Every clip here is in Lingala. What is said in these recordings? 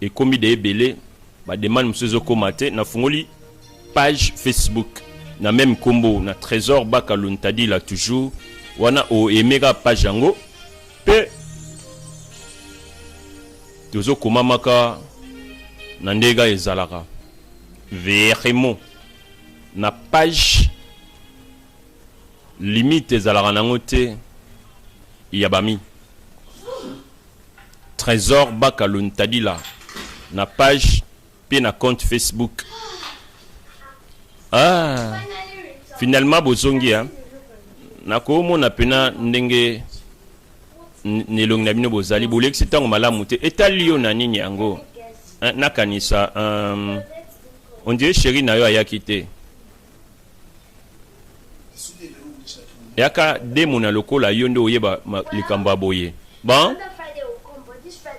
ekomi de ebele ba demande mosusu ezokoma te nafungoli page facebook na meme nkombo na trésor baka luntadila toujours wana oemeka page yango mpe tozokomamaka na ndenge ezalaka verimo na page limite ezalaka nango te ya bami Tresor Bakalo Ntadila na page mpe na compte Facebook. Ah, finalement bozongi hein? nakomona mpena ndenge na elongi na bino bozali bolekisi ntango malamu te etali yo na nini yango eh, nakanisa um, ondire sheri na yo ayaki te yaka demona lokola yo nde oyeba likambo ya boye bon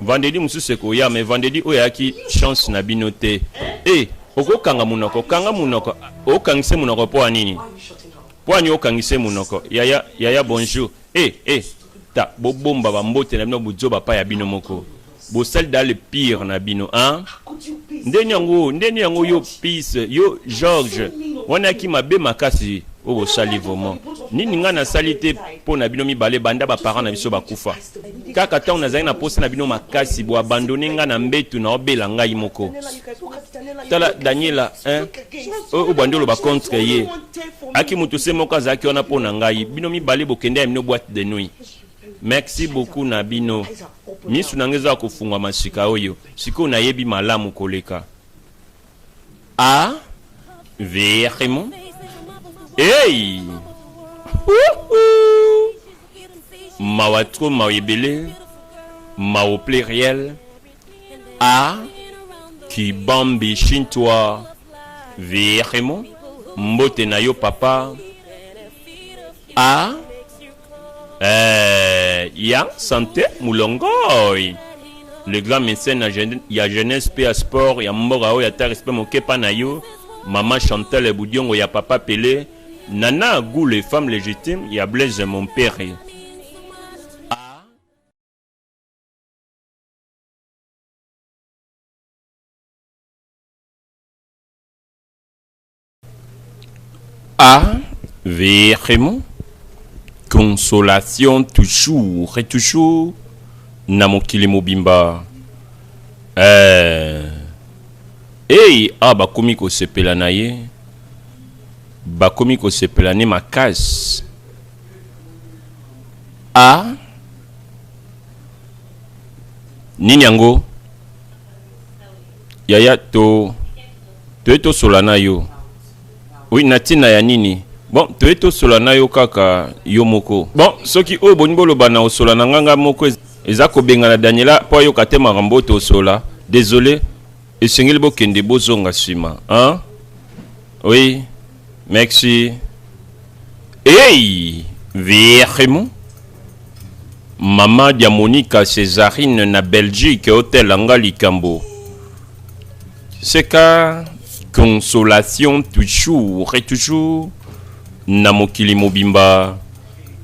vendredi mosusu ekoya mais vendredi oyo ayaki chance na bino te e eh, hey, okokanga monoko kanga monoko okangise monoko mpo ya nini mpo ya nini okangise monoko yaya yaya bonjour e hey, e eh, hey, ta bobomba bambote na bino bozoba pa ya bino moko bosali da le pire na bino hein ndeni yango ndeni yango yo peace yo george wana yaki mabe makasi oyo bosali vraiment nini ngai nasali te mpo na bino mibale banda baparent na biso bakufa kaka ntango nazali na posa na bino makasi boabandone ngai na mbetu na obela ngai moko tala daniela hein? oyo obandi oloba contre ye aki moto se moko azalaki wana mpo na ngai bino mibale bokende ya bino boite de nuit merci beaucoup na bino Misu na nga eza ya kofungwama sika oyo, sikoyo nayebi malamu koleka. A verimo hey! mawa tro mawa ebele mawa au pluriel a kibambi shintwa verimo mbote na yo papa a Eh, ya sante mulongoi le grand médecin ya, jeune, ya jeunesse mpe ya sport ya mboka oyo ata respect moke mpa na yo mama chantal budiongo ya papa pele nana gule femme légitime ya blaise mompere Ah, vraiment Consolation toujours et toujours na mokili mobimba. Eh, hey, ah, bakomi kosepela na ye bakomi kosepela ne makasi a nini yango yaya to toye tosola na yo oui na ntina ya nini bon toye tosola na yo kaka yo moko bon soki oyo bolingi boloba na osola na ngai ngai moko eza kobengana daniela mpo ayoka te makambo oyo tosola désolé esengeli bokende bozonga nsima hein? oui Merci. Hey, vraiment. Mama dia Monica Césarine na Belgique hôtel anga likambo. Seka consolation toujours et toujours na mokili mobimba.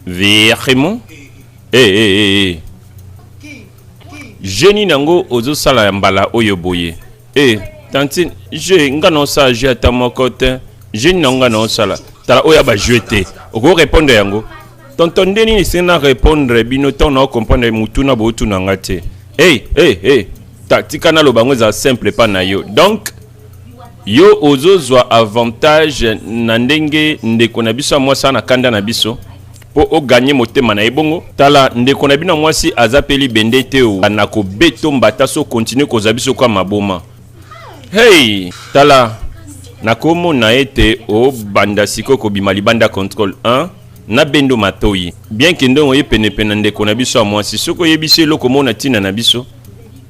Vraiment. Eh hey, eh hey, eh hey, eh. Génie nango ozo sala ya mbala oyo boye. Eh, tantine, je nga na osala jeu ata moko te. Je na nga na osala. Tala oya ba jeu te. Oko répondre yango. Tonton nde nini se na répondre bino tant na comprendre mutuna bo tuna nga te. Hey, hey, hey. Ta tika na lobango eza simple pas na yo. Donc yo ozozwa avantage na ndenge ndeko na biso ya mwasi na kanda na biso po o gagne motema na ye bongo tala ndeko na bino mwasi aza pe libende te o oh. na kobeto mbata so continue kozwa biso kwa maboma hey tala nakomona ete obanda sikoyo kobima libanda contrôle 1 na bendo matoyi bien ke ndongo ye penepene na ndeko na biso ya mwasi soki oyebisi eloko mona ntina na biso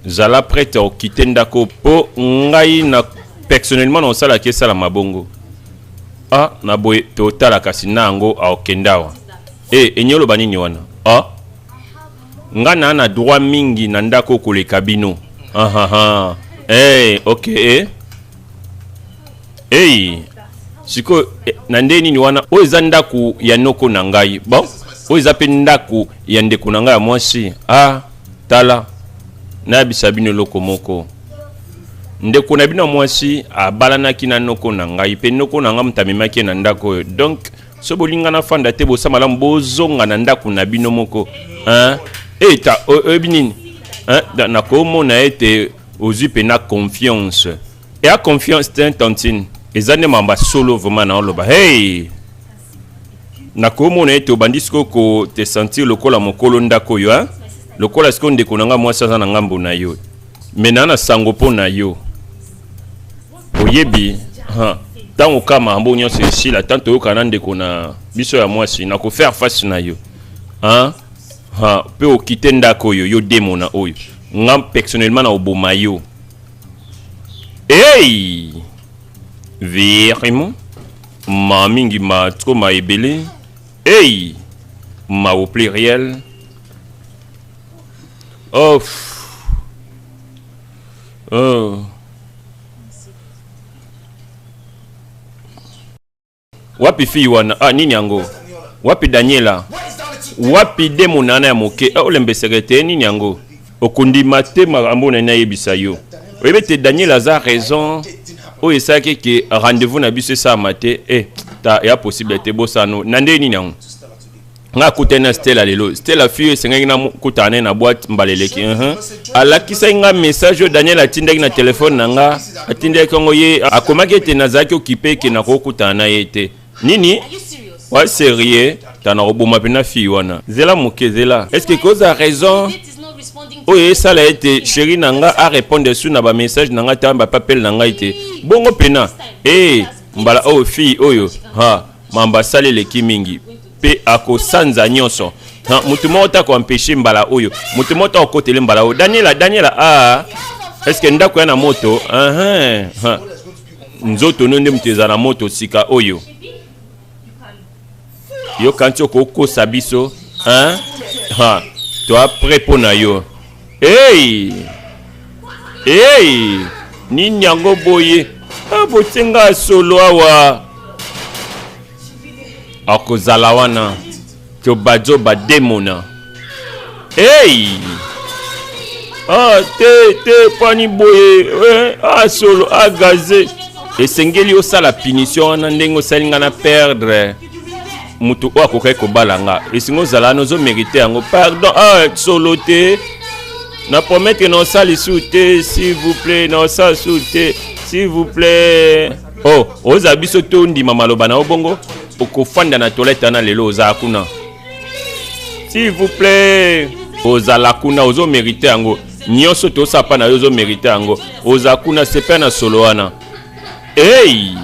zala prete okite ndako mpo ngai na personnellement na osalaki esalama bongo ah na boye pe otala kasi na yango aokendawa e eh, enye oloba nini wana ah nga na na droit mingi na ndako koleka bino ahaha hey, eh, ok eh. hey. sikoyo eh, na nde nini wana oyo eza ndako ya noko na ngai bon oyo eza mpe ndako ya ndeko na ngai ya mwasi ah Tala, nayebisa bino eloko moko. Ndeko na bino mwasi abalanaki na noko na ngai, mpe noko na ngai moto amemaki ye na ndako oyo. Donc, so bolinga nafanda te, bosa malamu bozonga na ndako na bino moko. Hein? Eta, oyebi nini? Hein? Nakomona ete ozwi mpenza confiance. Eya confiance te, tantine. Eza nde mamba solo vraiment naoloba. Hey! nakomona ete obandi sikoyo kotesentir lokola mokolo ndako oyo a lokola sikoyo ndeko na ngai mwasi aza na ngambo na yo me naa na sango mpo na yo oyebi ntango ka makambo nyonso esila ntango toyokana na ndeko na biso ya mwasi na kofaire face na yo mpe okite ndako oyo yo demo na oyo nga personnellement na oboma yo hey! vraiment Ma mingi ma trop ma ebele. Hey! Ma au pluriel. Oh. Oh. Wapi fille wana? Ah, nini yango? Wapi Daniela? Wapi demo nana ya moke? Ah, olembeseke te nini yango? Okondima te makambo oyo nani nayebisa yo. Oyebi ete Daniel aza raison oyo esalaki eke rendez-vous na biso esalama te. Eh, ta ya possible te bosano. Na ndenge nini yango? nga akutani na stela lelo stela fi oyo esengaki nakutana naye na boite mbala eleki uh -huh. alakisaki nga message oyo daniel atindaki na telefone na nga atindaki yango ye akomaki ete nazalaki okipe eke nakokutana na ye te nini wa serieux tana koboma mpe na fille wana zela moke zela est ce que koza raison oyo esala ete sheri na nga arépondre su na bamessage na ngai ta bapapele na ngai te bongo mpena ee eh, mbala oyo fille oyo ha mamba asali eleki mingi mpe akosanza nyonso moto moko te akoampeshe mbala oyo moto moko te akokotele mbala oyo daniela daniela a ah, estce ndako ya na moto uh ah, -huh. Ah, nzoto no nde moto eza na moto sika oyo yo kanti okokosa biso hein? ha toa pre mpo na yo ei ei nini yango boye ah, botie ngai solo awa akozala wana Zoba zoba demona. Hey! Ah, te te pani boye eh, ah, solo ah, gaze esengeli osala punition wana ndenge osali nga na perdre moto oyo akokaki kobala nga esengi ozala wana ozomerite yango pardon ah, solo te na promettre na osali su te s'il vous plaît na osala su te s'il vous plaît oh oza biso to ndima maloba na obongo okofanda na toilette wana lelo oza kuna s'il vous plaît ozala kuna ozo merite yango nyonso tosapa na yo ozo merite yango oza kuna sepe na solo wana hey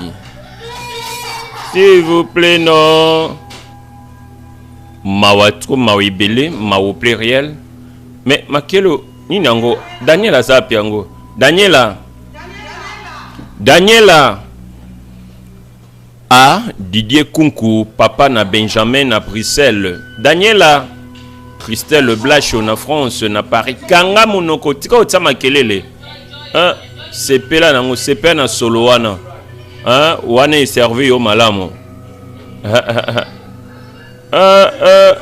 s'il vous plaît non mawa trop mawa ebele mawa pluriel mais makelo nini yango daniel aza api yango daniela Daniela A. Didier Kunku, papa na Benjamin na Bruxelles. Daniela Christelle Blacho na France, na Paris. Kanga monoko, tika otsa makelele. Hein? Sepela nango, sepela na solo wana. Hein? Wana e servi yo malamu. Ah, ah.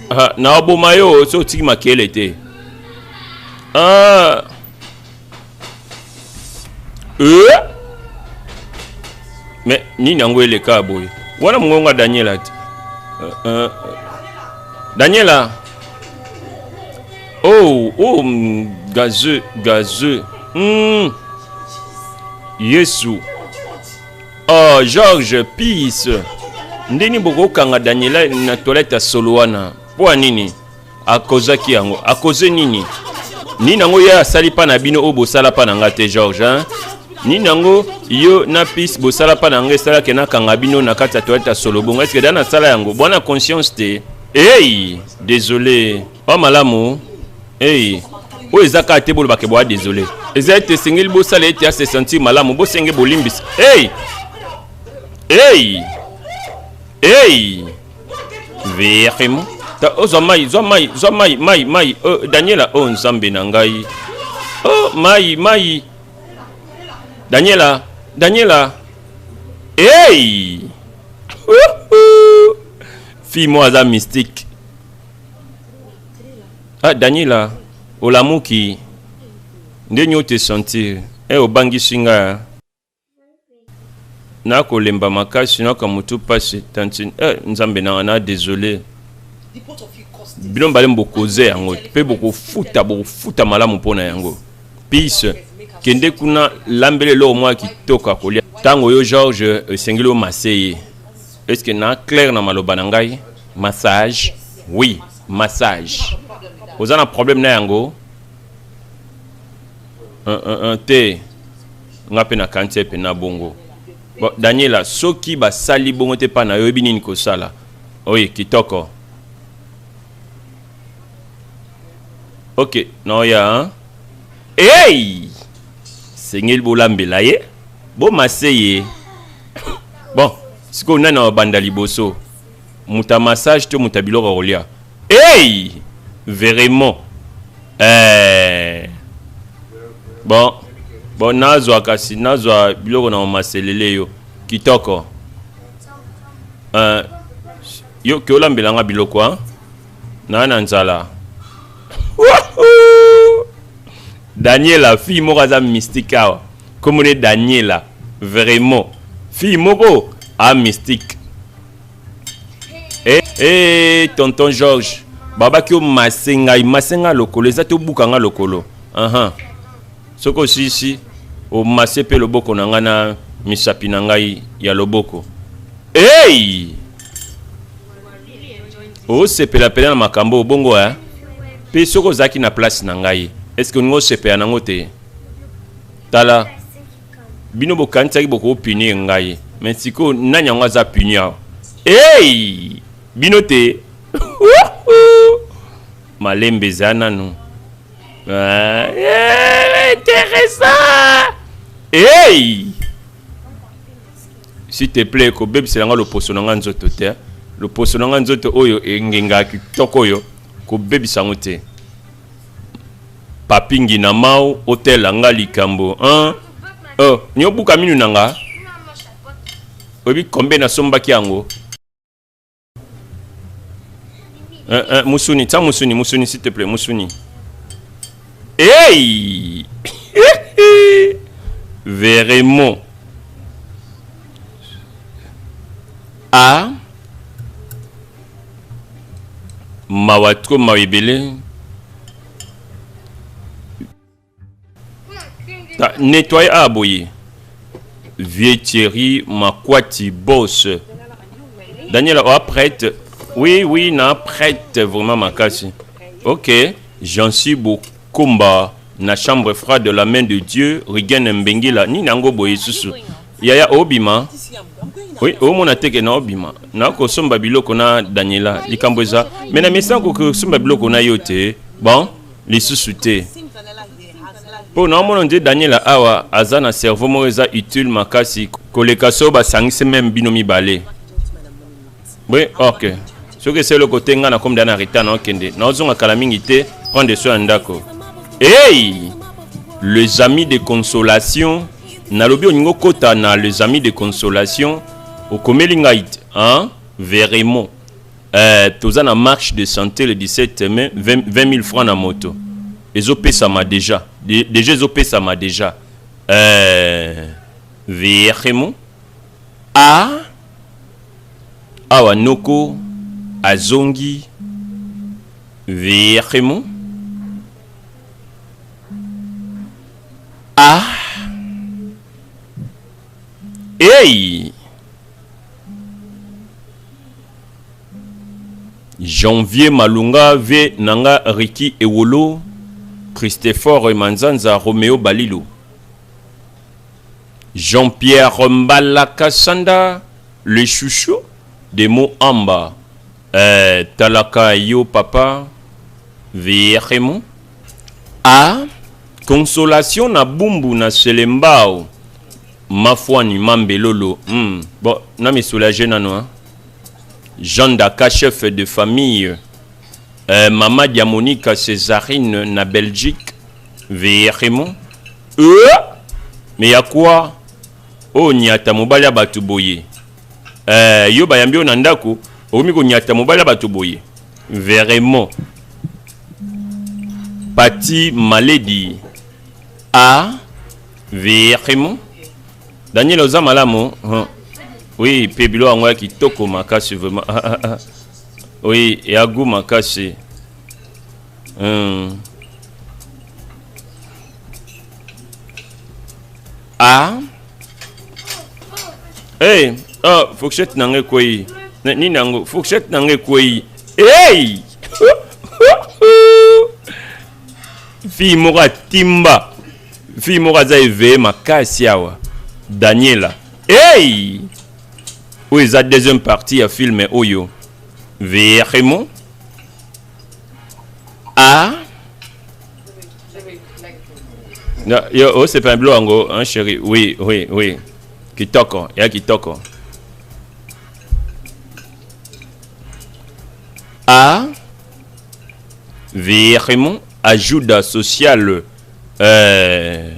Ah, na oboma yo so otiki makelele te. Ah. Euh. Mais ni nango le boye. Wana mongonga Daniela ti. Euh, euh, Daniela. Oh, oh, mm, gazeux, gazeux. Hmm. Yesu. Oh, Georges, peace. ndeni bokokanga daniela na toilette ya solo wana mpo ya nini A causa ki yango. A cause nini? Nini yango ya sali pa na bino o bosala pa na nga te George hein? Nini yango yo na pis bosala pa na nga esala ke na kanga bino na kati ya toilette ya solo bongo est-ce que da na sala yango? Bwana conscience te. Hey, désolé. Ba malamu. Hey. oyo eza kaka te bolobaka eboya desole eza ete esengeli bosala ete ase sentir malamu bosenge bolimbisa hey! hey! hey! verimo ozwa oh, mai zwa mai zwa mai mai mai oh, daniela o oh, nzambe na ngai o oh, mai mai daniela daniela hey! fille moko aza mystique ah daniela olamuki nde nyo te sentir e eh, obangisi ngai Na ko lemba makasi na ka mutu pasi tantine eh nzambe nanga na desole bino mibale mbo cause yango pe boko futa boko futa malamu pona yango peace kende kuna lambela eloko mwa kitoko ya kolia ntango yo george esengeli omase ye eske na claire na maloba na ngai massage oui massage oza na problème na yango uh, uh, uh, te Nga pe na kanisi ete pena bongo. Bon, Daniela, soki basali bongo te pa na yo, oyebi nini kosala? Oui, kitoko. Ok, naoya, hein? Hey! Sengeli bolambela ye, bomase ye. Bon, sikoyo nani abanda liboso? Muta massage to muta biloko ya kolia? Hey! Veriment eeh bon bon nazwa kasi nazwa biloko na maselele yo kitoko euh, yo ke olambela nga biloko a naa na nzala daniela fille moko aza mystique awa kombo ne daniela vraiment fille moko a mystique Eh, eh, tonton Georges, babaki yo masengai, masenga lokolo, eza to buka nga lokolo. Aha. Soko sisi, o masse pe loboko na nga na misapi na ngai ya loboko. Hey! osepela pela na makambo bongo eh? mpe soki ozalaki na place na ngai eske olingi osepela nango te tala bino bokanisaki boko punir ngai mais sikoyo nani yango aza puni awa hey! bino te malembe eza nanu ah, eh, intéressant hey! s'il te plaît kobebisela ngai loposo na ngai nzoto te loposo na ngai nzoto oyo engenga kitoko oyo kobebisa yango te Papy ngina mao otela nga likambo hein oh nyo buka minu na nga oyebi kombe nasombaki yango eh, eh, musuni tia musuni musuni s'il te plaît musuni hey vraiment a ah. Mawa trop mawa ebele. Ta nettoyer a ah, boye. Vieux Thierry Makwati boss. Daniela oh, prête. Oui, oui, na prête vraiment ma casse. OK, j'en suis beau combat na chambre froide de la main de Dieu, Regain Mbengila, ni nango boye susu. yaya obima oui omona te ke naobima nakosomba biloko na daniela likambo eza me na mesana kokosomba biloko na yo te bon lisusu te mpo naomona nde daniela awa aza na cerveau moko eza utile makasi koleka so basangisi meme bino mibale Oui, ok. Ce que c'est le côté nga na comme dans Rita na kende. Na ozonga kala mingi te, prends des soins ndako. Hey! Les amis de consolation, na lobi oningo kota na les amis de consolation, okomeli ngai hein? Veremo. Euh, toza na marche de santé le 17 mai 20, 20 000 francs na moto. Ezo pesama déjà. De, déjà ezo pesama déjà. Euh, Veremo. A Awa Noko azongi vraiment Ah Hey Janvier Malunga V Nanga Ricky Ewolo Christopher Manzanza Romeo Balilu Jean Pierre Mbala Kasanda le chouchou de mo amba eh, talaka yo papa vraiment ah consolation na bumbu na selembao mafuani mambelolo hmm. bon na mi soulager nano hein? Jean Daka chef de famille Euh, Mama Diamonica Césarine na Belgique, Vierimo. Euh, mais ya quoi Oh, nyata mobali ya bato boye. Euh, yo bayambi yo na ndako, okomi konyata mobali ya bato boye. Vraiment. Pati Maledi. A. Vierimo. Daniel oza malamu. Hein. Oui, Pebilo yango ya kitoko makasi vraiment. Ah, ah, ah. Oui, ya goût makasi. Hum. Ah. Hey, ah, fourchette na ngai kwei. Nini nango? Fourchette na ngai kwei. Hey! Fille moko atimba. Fille moko aza eveye makasi awa. Daniela. Hey! oyo eza deuxième partie ya filme oyo vraiment a yo osepela bilo yango hein, chéri oui oui oui kitoko ya kitoko a vraiment ajuda sociale euh,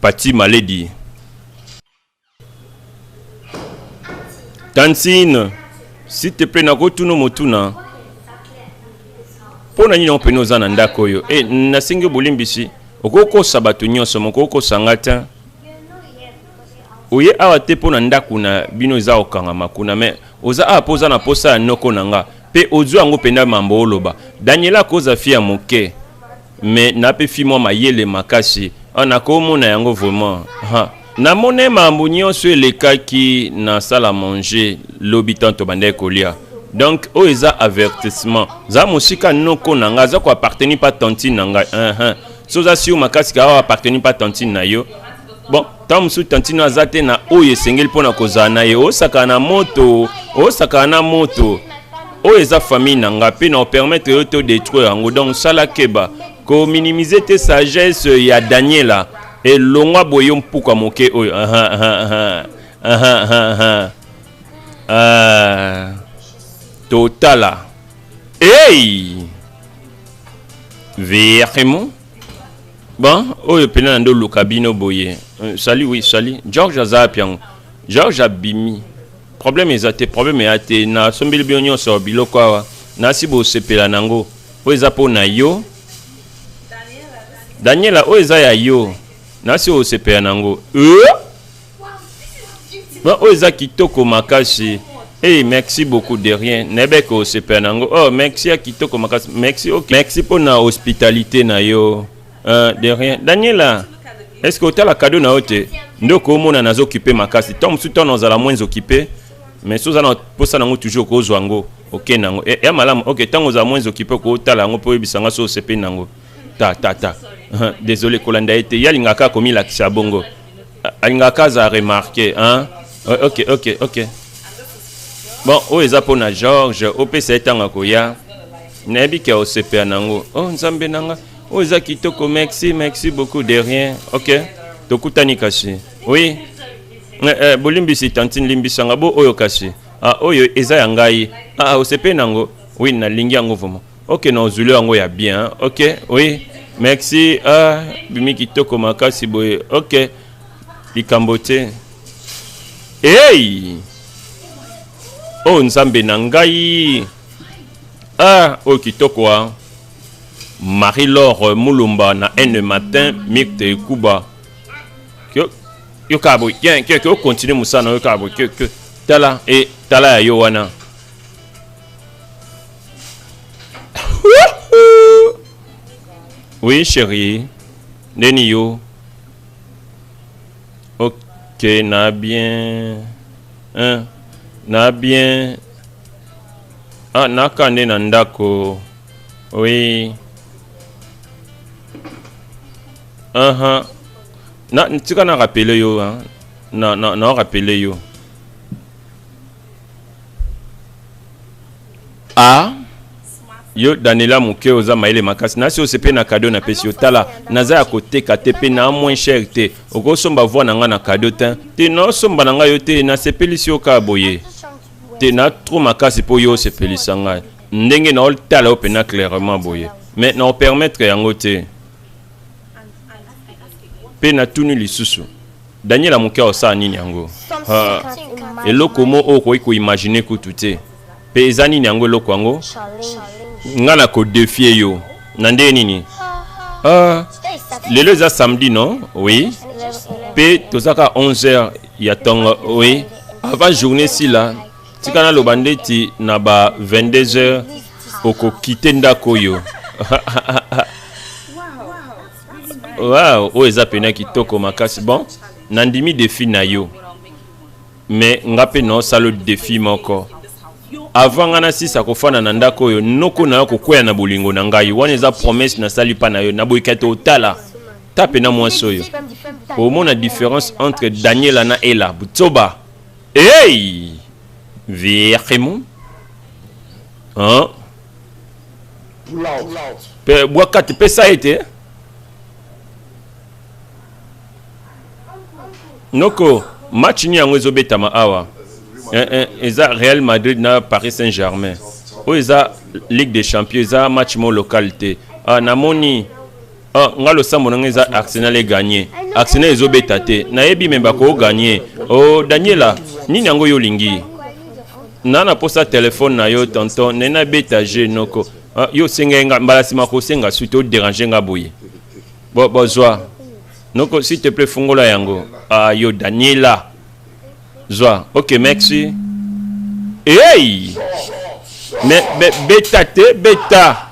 pati maledi Tantine, s'il te plaît, nakotuna motuna mpo na nini yango mpene oza na ndako oyo e nasengi bolimbisi okoki kosa bato nyonso moko okosa nga te oye awa te mpo na ndako na bino eza kokangama kuna me oza awa mpo oza na mposa ya noko na nga mpe ozwi yango mpenza mambo oloba daniela akoza fi ya moke mais na pe fi mwa mayele makasi ah, nakomona yango vraiment ha namone mambo nyonso elekaki na sala manger lobi tanto bandaki kolia donc oyo eza avertissement za mosika noko na ngai aza koappartenir mpa tantine na ngai uh -huh. so oza sur makasi ka oyo appartenir mpa tantine na yo bon ntango mosusu tantino aza te na oyo esengeli mpo na kozala na ye osakana na moto osakana na moto oyo eza famille na nga mpe na opermettre yo to detruire yango donc sala keba kominimize te sagesse ya daniela elongwa boye yo mpuka moke oyo uh -huh, uh -huh, uh -huh, uh -huh. Uh, totala ei hey! vraiment bon oyo pena na nde oluka bino boye euh, sali oui sali george aza api yango george abimi problème eza te problème eya te nasombeli bino nyonso biloko awa nasi bosepela na yango oyo eza mpo na yo daniela oyo eza ya yo nasi osepela na yango euh? Bon, oyo eza kitoko makasi Hey, merci beaucoup de rien. Nebeko osepela nango. Oh, merci ya kitoko makasi. Merci. Okay. Merci pour na hospitalité na yo. Euh, de rien. Daniela, est-ce que otala cadeau na yo te? Ndoko omona nazo occuper makasi. Tant mosusu tant ozala moins occupé. Mais si oza na posa nango toujours kozwa yango oke nango e, ya malamu ok ntango ozala moins occupé kotala yango mpo oyebisa nga so osepeli nango ta ta ta désolé kolanda ye te ye alingaka komilakisa bongo alingaka ka aza remarke hein? ok ok ok bon oyo eza mpo na george opesa ye ntango akoya nayebi ke osepela na yango o oh, nzambe na nga oyo eza kitoko merci merci beaucoup de rien ok tokutani kasi oui eh, eh, bolimbisi tantine limbisanga bo oyo kasi ah, oyo eza ya ngai ah, osepeli na yango oui nalingi yango vraimen Ok na ozuli yango ya bien hein? ok oui merci ah, bimi kitoko makasi boye ok likambo te hey! oyo oh, nzambe na ngai ah, oyo oh, kitoko a ah. marie lor mulumba na ene matin mikte kuba yokaa boye keke okontinue mosala na yo yokaa boye keke tala e tala ya yo wana Oui, chérie. Neni yo. Ok, na bien. Hein? Na bien. Ah, na kande na ndako. Oui. Uh -huh. Na, tika na rappeler yo, hein. Na, na, na rappeler yo. ah yo danela moke oza mayele makasi nasi osepe na kado na pesi yo tala naza ya koteka te mpe na moins cher te okosomba voi na ngai na kado te te naosomba na ngai yo te nasepelisi yo kaka boye te na tro makasi mpo yo osepelisa ngai ndenge naotala yo mpena clairement boye mais naopermettre yango te mpe natuni lisusu Daniela moke osala nini yango? Ah, eloko mo oyo okoki koimagine kutu te. Mpe eza nini yango eloko yango? Nga na kodefie yo na ndenge nini? Ah, lelo eza samedi non? Oui. Mpe tozaka 11h ya tongo, oui. Avant journée sila, tika naloba ndeti na ba 22h okokite ndako oyo. wow, oyo eza pena kitoko makasi bon nandimi defi na yo me nga mpe naosala defi moko avant nga nasisa kofanda na ndako oyo noko na yo kokwea na bolingo na ngai wana eza promese nasali mpa na yo naboyika te otala ta mpena mwasi oyo omona différence entre daniela na ela butsoba ei hey! vraiment hein? mpe bwa kati pesa ye te noko match nini yango ezobetama awa eh, eh, eza real madrid na paris saint germain oyo eza ligue des champions eza match mo local te ah, namoni Ah, nga losambo na nga eza arsenal eganye arsenal ezobeta te nayebi me bakoganye o oh, daniela nini yango yo olingi na naposa telefone na yo tonton nde nabeta je noko ah, yo osengai nga mbala nsima kosenga su te oderange nga boye bozwa noko s'il te plaît fungola yango ah, yo daniela zwa ok merci hey! me, me, beta te beta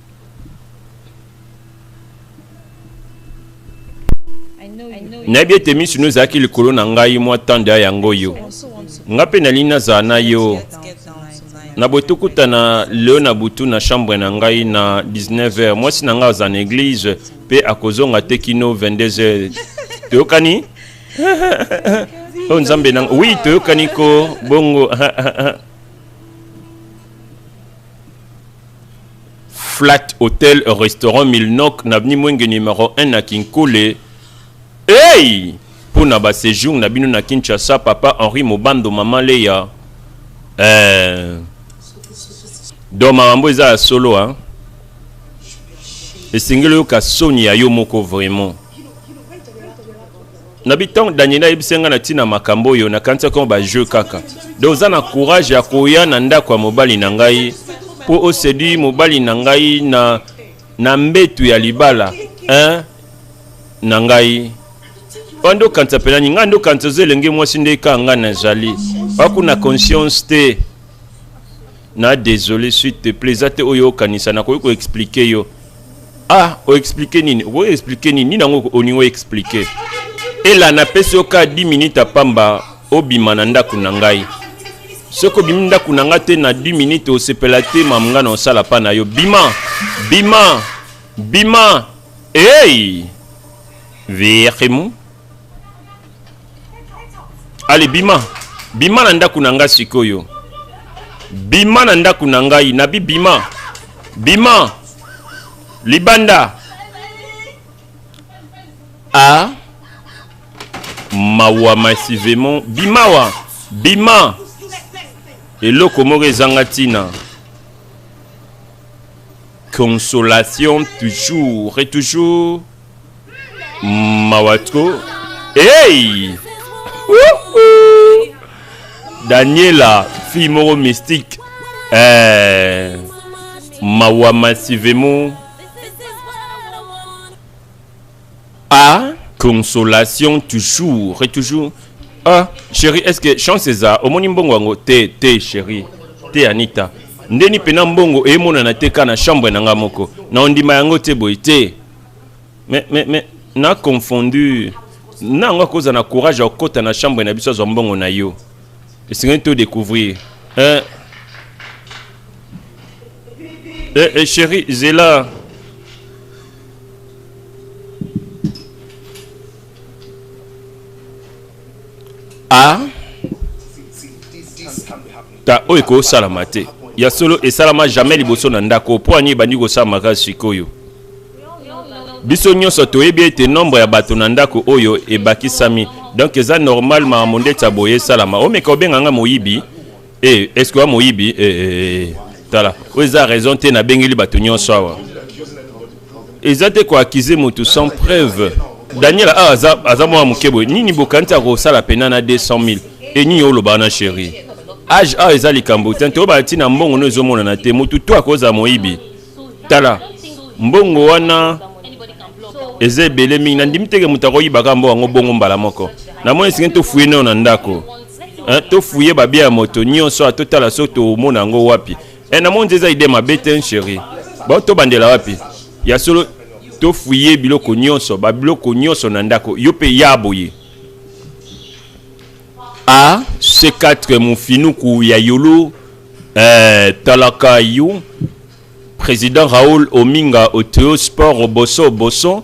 nayebi ete miso no ezalaki likolo na ngai mwa ntango ya yango oyo ngai mpe nalingi nazala na yo na botokutana leo na butu na chambre na ngai na 19h mwasi na ngai aza na eglize mpe akozonga te kino 22h toyokani o oh, nzambe na wi toyokani ko bongo Flat Hotel Restaurant Milnok na Avenue Mwenge numéro 1 na Kinkole. Hey! Mpo na ba séjour na bino na Kinshasa, Papa Henri Mobando, Mama Leya. Eh. Donc makambo eza ya solo hein. Esengeli oyoka soni ya yo moko vraiment. nabi ntango daniel ayebisaki ngai na ntina makambo oyo nakanisaki yango bajeu kaka donc oza na courage ya koya na ndako ya mobali na ngai mpo osedui mobali na ngai na, na mbetu ya libala hein? na ngai oyo nde okanisa mpe nani ngai nde okanisa oza elenge mwasi nde kaka ngai nazali bakuna conscience te na desole suite te pla eza te oyo okanisa nakoki koexplike yo ah oexplike nini okoki explike nini nini yango olingi oexplike ela napesi yo ka 10 minute ya pamba obima na ndako na ngai soki obimi ndako na ngai te na 10 minute osepela te mamu ngai na osala mpa na yo bima bima bima ei hey! virimu ale bima bima na ndako na ngai sikoyo bima na ndako na ngai nabi bima bima libanda a ah. mawa masivement bimawa bima eloko moko ezanga ntina consolation toujours et toujours mawa tro hey! daniela fille moko mystique eh, mawa massivement a consolation toujours et toujours ah chérie est ce que chance eza omoni mbongo yango te te chérie te anita ndeni mpena mbongo emonana te ka na chambre na ngai moko na ondima yango te boye te mais mais mais na confondu nango akoza na courage ya kokota na chambre na biso azwa mbongo na yo esengeli to découvrir eh, eh, eh, chéri zela a ah. Ta oyo ekosalama te. Ya solo esalama jamais liboso na ndako. Mpo ani ebandi kosala makasi sikoyo. Biso nyonso toyebi ete nombre ya bato na ndako oyo ebakisami. Donc eza normal makambo ndeti ya boye esalama. Omeka obenga nga moyibi. Eh, est-ce que moyibi? Eh, eh, eh. Tala, oyo eza raison te nabengeli bato nyonso awa. eza te ko accuser moto sans preuve daniel awa aza, aza mwana moke boye nini bokanisi akosala mpena na 200 000 e nini olobaka na sheri age awa eza likambo te toyebaka ntina mbongo no ezomonana te motu to akozala moyibi tala mbongo wana eza ebele mingi nandimi teke moto akoyibaka mbo yango bongo mbala moko namoni esingi tofuye nayo na ndako tofuye babia ya moto nyonso awa totala so tomona yango wapi e eh, namoni nde eza ide mabe te chéri bao tobandela wapi ya solo tofuye biloko nyonso babiloko nyonso na ndako yo mpe ya boye a c4 mofinuku ya yolo eh, talaka yo président raoul ominga oteo sport oboso oboso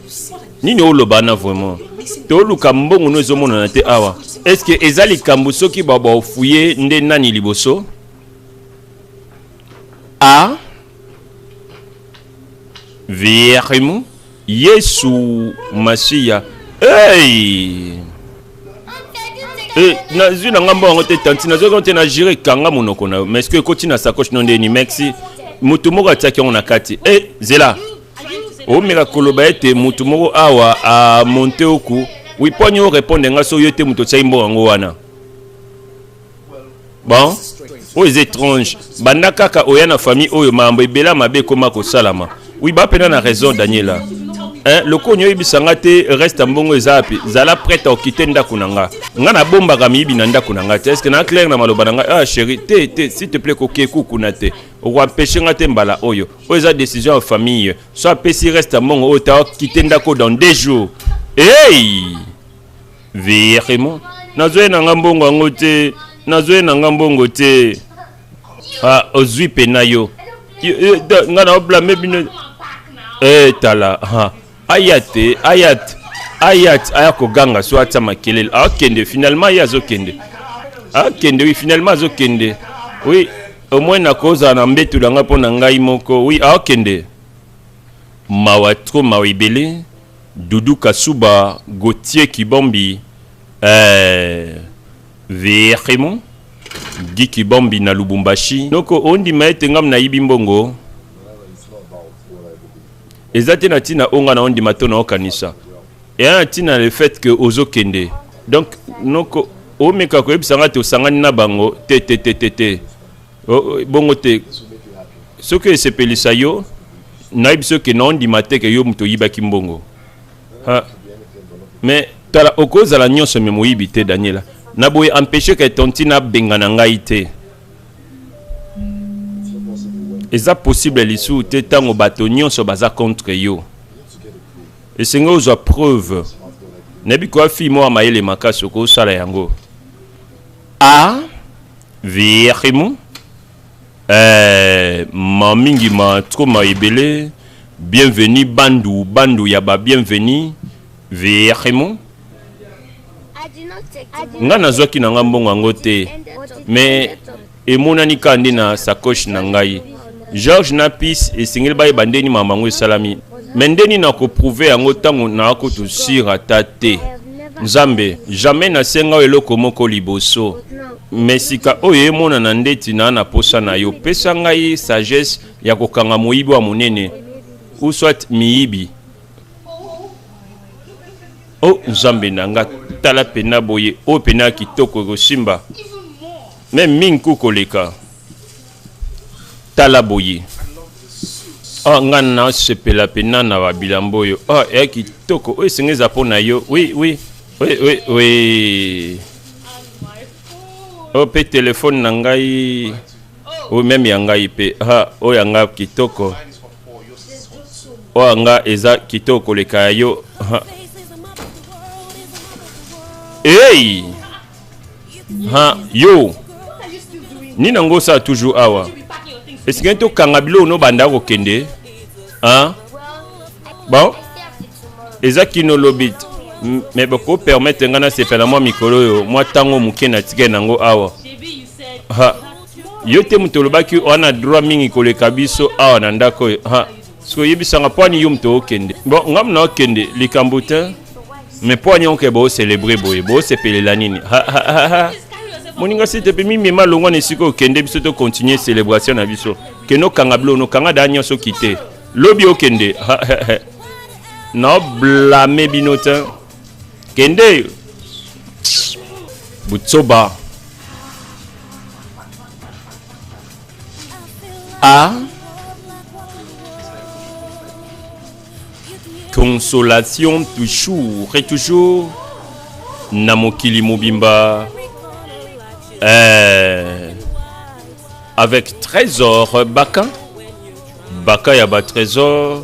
nini oloba wana vraiment toluka mbongo no ezomonana te awa est ce que eza likambo soki babaofuye nde nani liboso a verimu yesu masiya hey! hey, eh, nazwi na ngai mbongo yango te tanti nazwi yango te na jire kanga monoko na yo mais ce que ekoti na sacoche no ndeni mexi moto moko atiaki yango na kati e hey, zela omeka koloba ete moto moko awa amonte oku wiponi orepondre nga so yo te moto otyaki mbongo yango wana bon oyo eza étrange banda kaka oya na famille oyo makambo ebela mabe ekoma kosalama wi bapena na raison daniela eh, lokonyi oyebisa nga te reste ya mbongo eza wapi zala prete okite ndako na nga nga nabombaka miyibi na ndako na nga te eske na claire na maloba na nga ah chéri te te s'il te plaît kokie kukuna te okoampeshe nga te mbala oyo oyo eza décision ya famille so apesi reste ya mbongo oyo ta kite ndako dans deux jours hey! virement nazwei na nga mbongo yango te nazwei na nga mbongo te ah, ozwi mpe na yo ngai naoblame bino etala eh, ah. aya te aya te aya te aya koganga so atia makelele akende finalement ye azokende akende wi finalement azokende wi omoi nakozala na mbetu na ngai mpo na ngai moko wi akende mawa tro mawa ebele dudu kasuba gautier kibombi eh, verimo gi kibombi na lubumbashi noko ondima ete ngam nayibi mbongo Eza te na tina onga na ondima to na okanisa. Eya na tina le fait que ozo kende. Donc noko omeka koyebisa nga te osangani na bango te te te te te. Bongo te. Soki esepelisa yo nayebisi yo ke na ondima te ke yo moto oyibaki mbongo. Ha. Mais tala okozala nyonso me moyibi te Daniela. Na boye empêche ke tontina bengana ngai te. eza possible lisusu te ntango bato nyonso baza contre yo esengi ozwa preuve nayebi koya fille moko ya mayele makasi okosala yango a virimu eh, ma mingi ma tro ma ebele bienvenu bandu bandu ya ba bienvenu virimu nga nazwaki na nga mbongo yango te mais emonani kaka nde na sacoche na ngai george na pis esengeli bayeba nde nini makambo yango esalami me nde nini nakoprouve yango ntango nakotu sur ata te nzambe jamais nasenga oyo eloko moko liboso me sika oyo emonana ndeti naa na mposa na yo pesa ngai sagesse ya kokanga moyibi wa monene uswat miyibi o oh, nzambe na nga tala pena boye oyo oh, pena ya kitoko ekosimba me mingi ku koleka tala boye ah, nga nasepela pena na babilambo oyo ah, ya kitoko oyo esenga eza mpo na yo wi wi wi wi wi oyo oh, mpe telefone na ngai oyo meme ya ngai mpe ah, oyo ya ngai kitoko oyo nga eza kitoko koleka ya yo hey! ha yo nini yango osala toujours awa esengeli tokanga biloko nobanda kokende ha bon eza kino lobi me bokopermetre ngai nasepela mwa mikolo oyo mwa ntango moke natikali nango awa ha yo te moto olobaki wana droit mingi koleka biso awa na ndako oyo soki oyebisanga mpo ani yo moto okende bon nga mona okende likambo te me mpo ani oke boocelebre boye boosepelela nini moninga sete mpe mimema longwa na esika okende biso tokontinue celebration na biso kende okanga bilo nokanga daa nyonso kite lobi okende naoblame bino te kende butsoba a consolation toujours et toujours na mokili mobimba eh, avec trésor baka baka ya ba trésor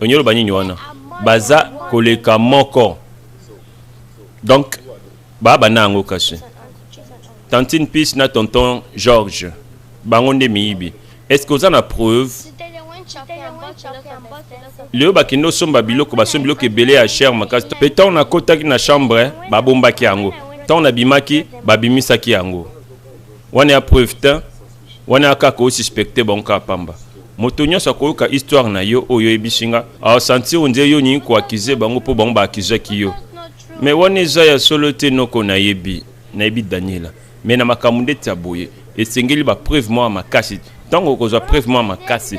onyolo banini wana baza koleka moko donc ba bana yango kasi tantine pis na tonton george bango nde miyibi est-ce que oza na preuve lelo bakende osomba biloko basombi biloko ebele ya cher makasi mpe ntango nakotaki na chambre babombaki yango ntango nabimaki babimisaki yango wana ya preuve te Wana kaka o suspecter bango kaka pamba. Moto nionso akoyoka histoire na yo oyo oyebisi nga, a sentir on dirait yo olingi ko accuser bango po bango ba accusaki yo. Mais wana eza ya solo te noko nayebi, nayebi Daniela. Mais na makambo ndeti ya boye, esengeli ba preuves mwa makasi. Tango okozwa preuve mwa makasi,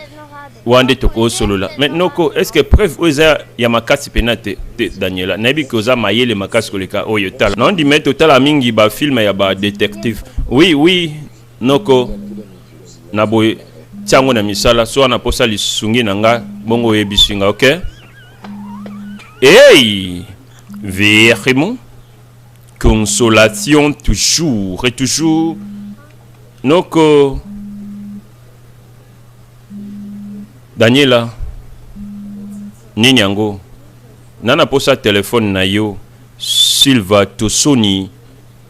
wana nde toko solola. Mais noko, est ce que preuve oyo eza ya makasi pena te? Te Daniela, nayebi que oza mayele makasi koleka oyo. Tala, na ondima ete otalaka mingi ba films ya ba detectives. Oui, oui. Noko, na boye tia yango na misala soki wana posa lisungi na nga bongo oyebisi nga ok hey verimo consolation toujours et toujours noko daniela nini yango nana posa telefone na yo silva tosoni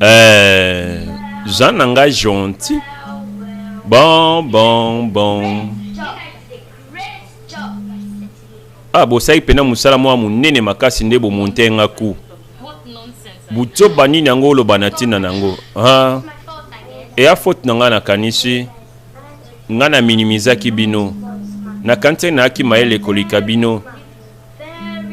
Eh, Jean nanga gentil. Bon, bon, bon. Ah, bosaki pena musala mwa munene makasi nde bomonte nga ku. Buzoba nini yango oloba na ntina na yango? Ah. Eya faute na ngai nakanisi ngai na minimizaki bino. Nakanisi nayaki mayele koleka bino.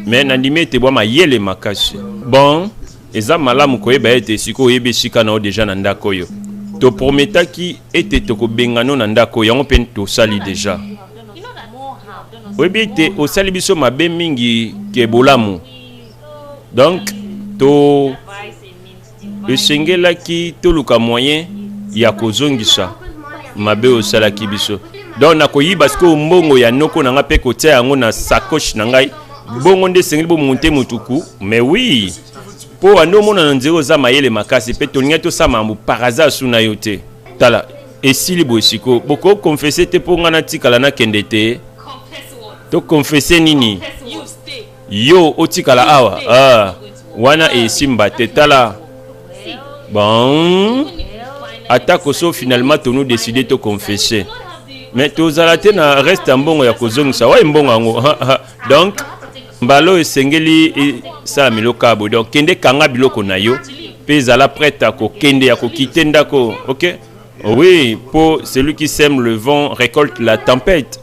mais nandimi ete bwa mayele makasi bon eza malamu koyeba ete sikoyo oyebi esika na yo deja na ndako oyo toprometaki ete tokobengano na ndako yango mpe tosali deja oyebi ete osali biso mabe mingi ke bolamu donc to esengelaki toluka moyen ya kozongisa mabe osalaki biso donc nakoyiba sikoyo mbongo ya noko na ngai mpe kotia yango na sacoche na ngai bongo nde esengeli bomonte motuku mais oui mpo wande omona na nzela oza mayele makasi mpe tolingai tosala makambo par hasard su na yo te tala esili boye sikoyo bokoki konfese te mpo ngai natikala nakende te tokonfese nini yo otikala awa ah, wana esimba te tala bon atako so finalement tonu décide to confesse mais tozala te na reste ya mbongo ya kozongisa waye mbongo yango donc mbala oyo esengeli esala milokabo donc kende kanga biloko na yo mpe ezala prête ya kokende ya kokite ndako ok oui mpo celui qui sème le vent récolte la tempête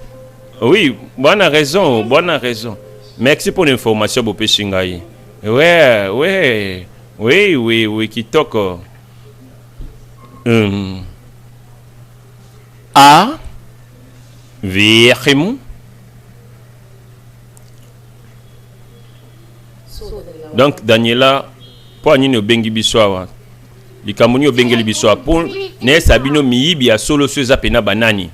Oui, bonne raison, bonne raison. Merci pour l'information, Bopé Shingai. Ouais, ouais, oui, oui, oui, Kitoko. Hum. A. Virgim. Donc, Daniela, pour nini obengi biso awa likambo nini obengeli biso apo nayesa bino miyibi ya solo so eza mpena banani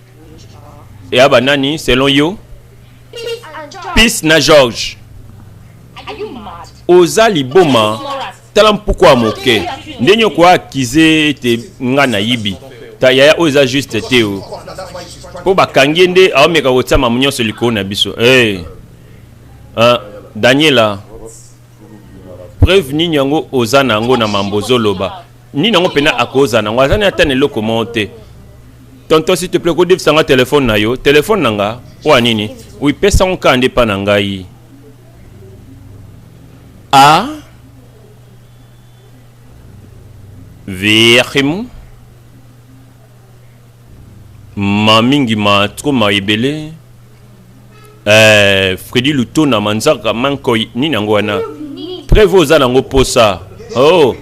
ya ba nani selon yo peace na george oza liboma tala mpuku ya moke ndenge okoya akize ete nga nayibi ta yaya oyo eza juste te o mpo bakangi ye nde aomeka kotia mamu nyonso likolo na biso hey. Eh. uh, ah, daniela preuve nini yango oza na yango na mambo ozoloba Nini yango pena akoza nango aza na ata na eloko moko te. Tonton s'il te plaît kodefisa nga telefone na yo telefone na nga mpo ya nini oipesa ngo kaka nde mpa na ngai a ah. verhimu Ma mingi ma trop ma ebele. Eh, Freddy Lutona Manzaka Mankoi nini yango wana? Preuve oza nango posa. Oh,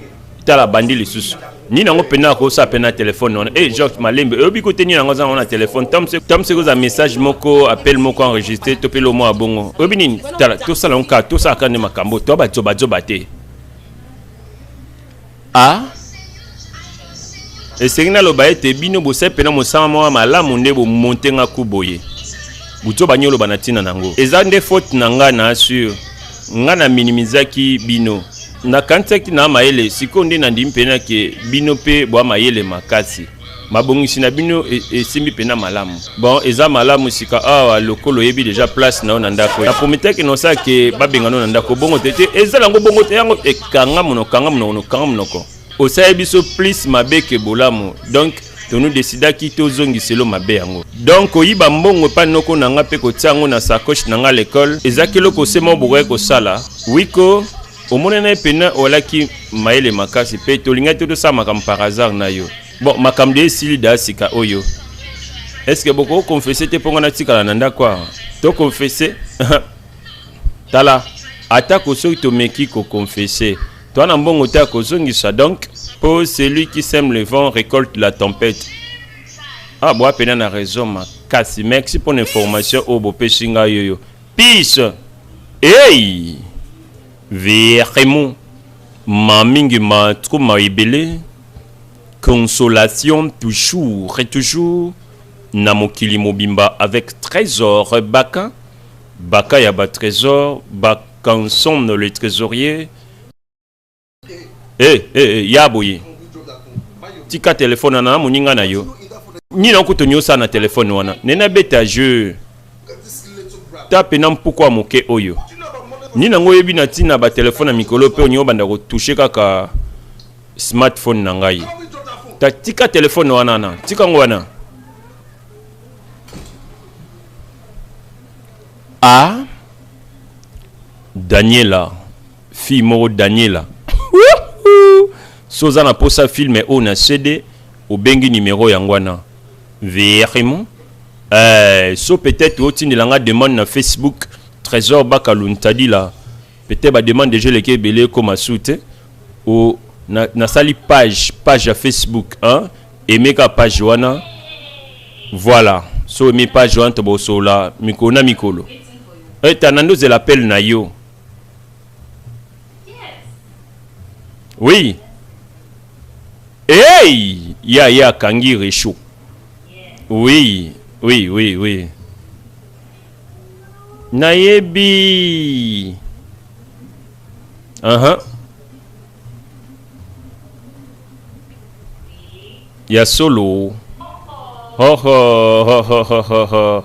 tala bandi lisusu. Nini yango pena ko sa pena téléphone wana. Eh, George Malembe, oyobi ko te nini yango za na téléphone. Tam se tam se koza message moko, appel moko enregistré to pelo mo abongo. Oyobi nini? Tala, to sala nka, to sala kande makambo, to ba zoba zoba te. a esengi naloba ete bino bosali mpena mosala moko malamu nde bomonte nga ku boye buto banyoloba na ntina na yango eza nde faute na ngai na assure ngai na minimizaki bino nakanisaki na mayele sikoyo nde nandimi mpena ke bino mpe bwa mayele makasi mabongisi na bino e, esimbi mpenza malamu bon eza malamu sika awa lokola oyebi deja place na yo na ndako na prometaki na osala ke babenga no na ndako bongo te te eza nango bongo te yango ekanga monoko kanga monoko nokanga monoko osali biso plus mabe ke bolamu donc tonu desidaki tozongisa elo mabe yango donk koyiba mbongo epai noko na ngai mpe kotia yango na sacoche na ngai lekole ezaki eloko se moko bokaki kosala wiko omona na ye mpena olaki mayele makasi mpe tolingaki te tosala makambo par hasard na yo bon makambo de esili da sika oyo estce bokoki konfese te mpo ngai natikala na ndako awa tokonfese tala atako soki tomeki kokonfese toa na mbongo te ya kozongisa donc mpo celui qui sème le vent récolte la tempête ah boa mpena na raison makasi merci mpo na information oyo bopesi ngai yoyo Peace hey verremo ma mingi ma trop ma ebele consolation toujours et toujours na mokili mobimba avec trésor baka baka ya ba trésor bakanson le trésorier eh, eh, eh, ya boye tika telefone wana na moninga na yo nini akutu niosa na telefone wana nene abeta jeu ta pena mpokwa moke oyo nini yango oyebi na ntina batelefone ya mikolo mpe oningi obanda kotushe kaka smartphone na ngai ta tika telefone wana na tika yango wana a daniela fille moko Daniela soza na posa film oyo na CD obengi numero yango wana vraiment euh, so peut-être otindela nga demande na Facebook Trésor Bakalu Ntadila peut-être ba demande déjà leke ebele ekoma su te o na, nasali page page ya Facebook hein? emeka page wana voilà so emi page wana tobosolola mikolo na mikolo eta eh, nandozela appel na yo Oui. Hey! Ya ya Kangi Réchaud. Oui, oui, oui, oui. Nayebi. Uh -huh. Ya solo. Ho ho ho ho ho ho.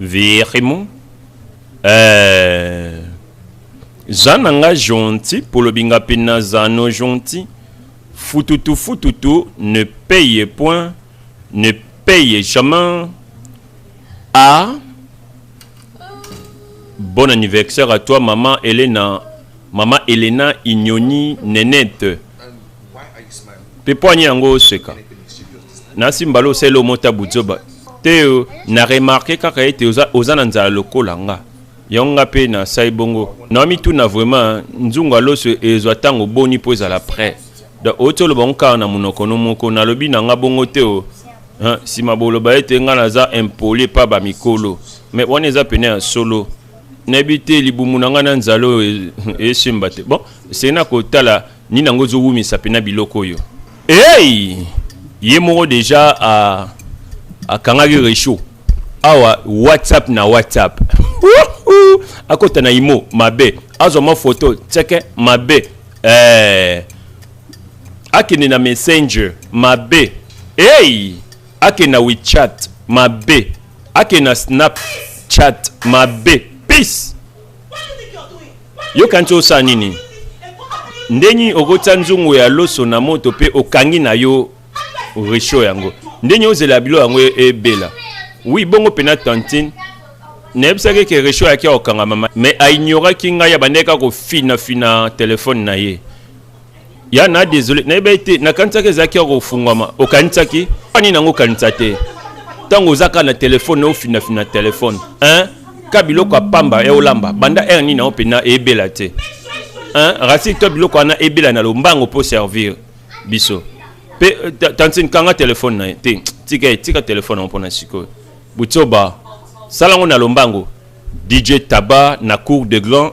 Virimo eh, za na nga gentil polobi nga mpe naza no gentil fututu fututu ne paye point ne paye jamais a ah. bon anniversaire à toi maman Elena maman Elena Ignoni Nenette mpe mpo ani yango oseka nasi mbala osali omota buzoba te yo na remarke kaka ete oza, oza na nzala lokola nga yango nga mpe nasali bongo namituna vraiment nzungu aloso ezwa ntango boni mpo ezala près donc outi oloba ngo kaka na monoko no moko nalobi na nga bongo te o nsima boloba ete nga naza impoli epa bamikolo mais wana eza pene ya solo nayebi te libumu na ngai na nzala oyo esimba te bon esengeli na kotala nini yango ezowumisa mpena biloko oyo hey! ye moko deja akangaki rechaud awa whatsapp na whatsapp akota na imo mabe azwa mwa foto tseke mabe eh. akende na messenger mabe hey! Ake na WeChat mabe. Ake na Snapchat mabe. Peace. Yo kanti osala nini? Ndenge okotya nzungu ya loso na moto pe okangi na yo resho yango. Ndenge ozela bilo yango ebela. Oui, bongo pena tantine nayebisaki ke resho ayaki akokanga mama mais ainyoraki ngai abandaki kaka kofinafina telefone na ye ya na desole nayebaki te nakanisaki ezalaki ya kofungwama okanisaki ani nango okanisa te ntango oza kaka na telefone ofinafina telefone hein? ka biloko ya pamba ya olamba banda aire nini yango mpenza eyebela te hein? rasili to biloko wana ebela na lombango mpo servir biso mpe euh, tantine kanga telefone na ye te tika ye tika telefone yango mpona sikoyo butsoba sala yango na lombango dj taba na cour de grand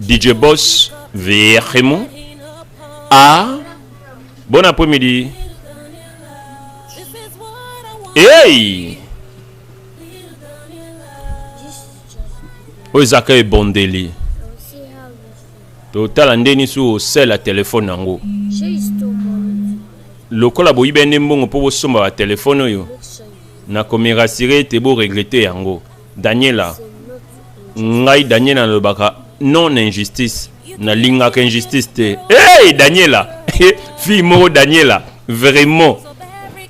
DJ Boss vraiment ah bon après-midi hey oyo ezaka ebondeli totala nde nisi osala telefone yango lokola boyibi nde mbongo mpo bosomba batelefone oyo nakomerasire ete boregrete yango daniela ngai daniela nalobaka non injustice nalingaka injustice te hey, daniela fille moko daniela vraiment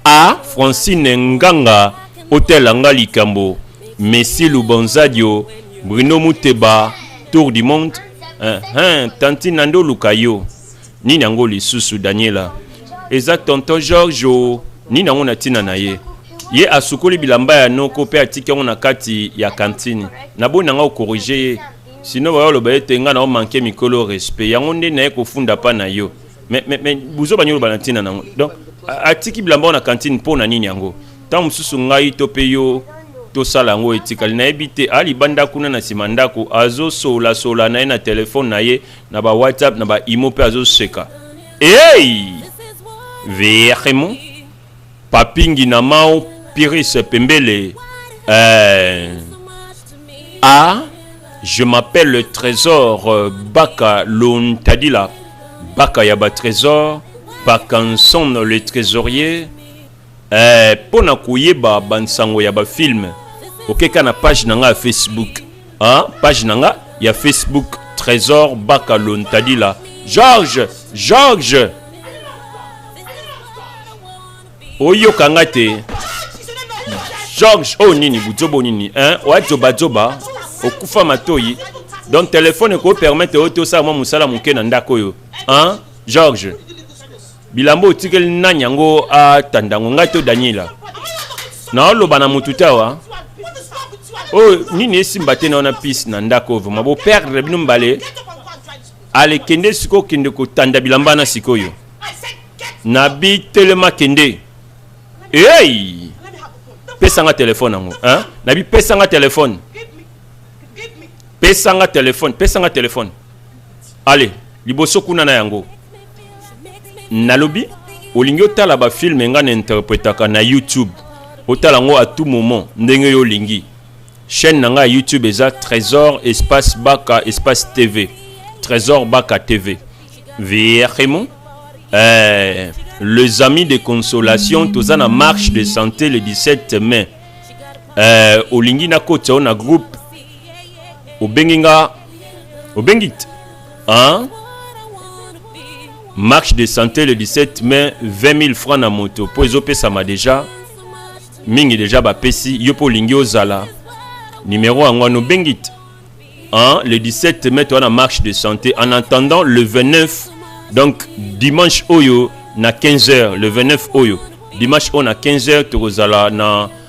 a francine nganga otela nga likambo messi lubonzadio bruno muteba tour du monde uh -huh. tantine nande oluka yo Nini yango lisusu Daniela? Eza tonton George o. Oh. Nini yango na tina na ye? ye asukoli bilamba ya noko mpe atiki yango na kati ya kantini naboni nanga okorige ye sino baya oloba ete ngai nao manke mikolo respect yango nde naye kofunda mpa na yo me buzoba nini oloba na ntina nango donc atiki bilamba na kantine mpo na nini yango ntango mosusu ngai to mpe yo tosala yango etikali nayebi te alibanda kuna na nsima ndako azosolasola na ye na telefone na ye na ba whatsapp na ba imo mpe azoseka hey! vraiment papingi na mao pirise pembele euh... ah je m'appelle trésor euh, baka lontadila baka ya ba trésor bakanson le trésorier Eeh pona koyeba ba nsango ya ba film oke ka na page na nga ya Facebook ah page na nga ya Facebook Tresor Baka Lontadila George George oyoka nga te George oyo oh, nini buzoba oh, nini hein oya zoba zoba okufa matoyi donc telefone ekopermettre oyo te osala mwa mosala moke na ndako oyo hein George bilamba otikeli nani yango atanda yango ngai to daniela naoloba na motu te awa oyo oh, nini esimba te na wana pise na ndako oyo vraimen boperdre bino mbale ale kende sikoyo kende kotanda bilamba na sikoyo na bitelema kende ei pesanga telefone yango na bipesanga telefone pesanga telefone pesanga telefone ale liboso kuna na yango nalobi olingi otala bafilme ngai na interpretaka na youtube otala yango à tout moment ndenge yo olingi chaîne na ngai ya youtube eza trésor espace baka espace tv trésor baka tv vraiment eh, les amis de consolation toza na marche de santé le 17 mai eh, olingi nakota yo na groupe obengi nga obengi te hein? marche de santé le 17 mai 20 000 francs na moto mpo ezopesama deja mingi deja bapesi yo mpo olingi ozala numero yango wana obengi te hein? le 17 mai toza na marche de santé en attendant le 29 donc dimanche oyo na 15 heures le 29 oyo dimanche oyo na 15 heures tokozala na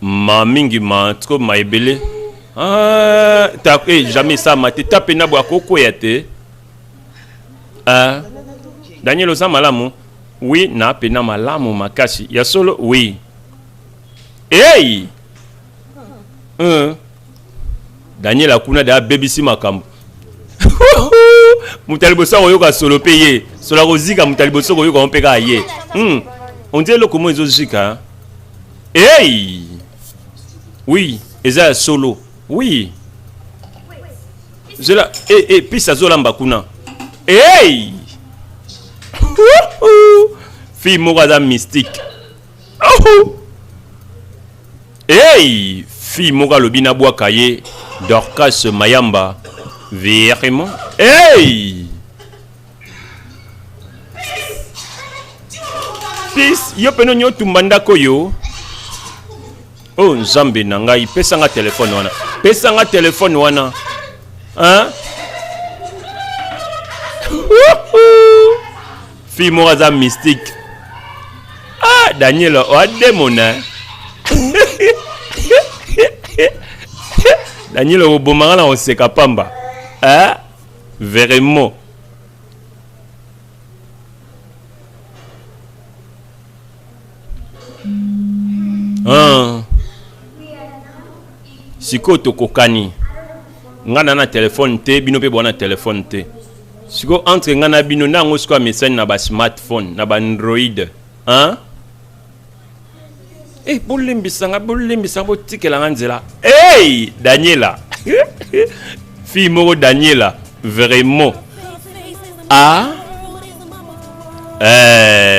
Ma mingi ma trop ma ebele. Ah, ta eh, jamais ça ma te tape na bwa koko ya te. Ah. Daniel oza malamu? Oui, na pe na malamu makasi. Ya solo? Oui. Hey! Hum. Daniel akuna da bebisi makambo. moto ya liboso akoyoka solo mpe ye solo akozika moto ya liboso koyoka yango mpe kaka ye hmm. ondie eloko moko ezozika ei oui eza ya solo oui zela e, eh, e, eh, pisi azolamba kuna ei fille moko aza mystique Ahou! Hey! Fille moka lobi na bwa kaye Dorcas Mayamba. Vraiment? Hey! Peace, yo peno nyo tumba ndako yo. Oh Nzambe na ngai, pesa nga telefone wana. Pesa nga telefone wana. Hein? fille moko aza mystique ah daniel oa demona daniel okobomaka na koseka pamba eh? vraiment ah. sikoyo tokokani ngai na na telefone te bino mpe bwana telefone te sikoyo entre ngai na bino nde yango sikoyo amesani na basmartphone na baandroid hein? e eh, bolembisa ngai bolembisa ngai botikela ngai nzela ey daniela fille moko daniela vraiment a ah? eh.